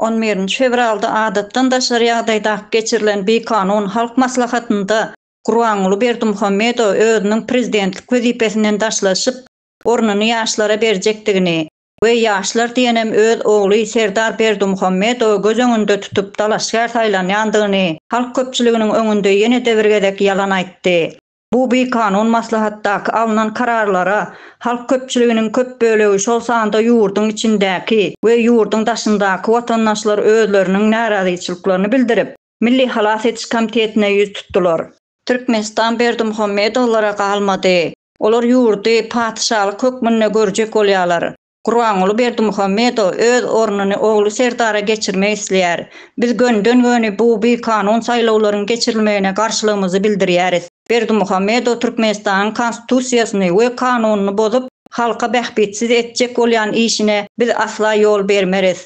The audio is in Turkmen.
On birinji fewralda adatdan daşary ýagdaýda geçirilen bikanun Halk Maslahatynda Gurbanguly Berdimuhamedow özüniň prezidentlik wezipesinden daşlaşyp, ornuny ýaşlara berjekdigini, we ýaşlar diýenem öz ogly Serdar Berdimuhamedowy göz öňünde tutup dalaşgär saýlanýandygyny halk köpçüliginiň öňünde ýene-de bir gezek ýalan aýtdy. Bu bikanun maslahatdaky alnan kararlara halk köpçüliginiň köp bölegi şol sanda ýurduň içindäki we ýurduň daşyndaky watandaşlar özleriniň närazyçylyklaryny bildirip, Milli halas ediş komitetine ýüz tutdular. Türkmenistan Berdimuhamedowlara galmady. Olar ýurdy patyşalyk hökmünde görjek bolýarlar. Gurbanguly Berdimuhamedow öz ornuny ogly Serdara geçirmek isleýär. Biz gönden-göni bu bikanun saýlawlaryň geçirilmegine garşylygymyzy bildirýäris. Berdimuhamedow Türkmenistanyň Konstitusiýasyny we kanunyny bozup, halka bähbitsiz etjek bolýan işine biz asla ýol bermeris.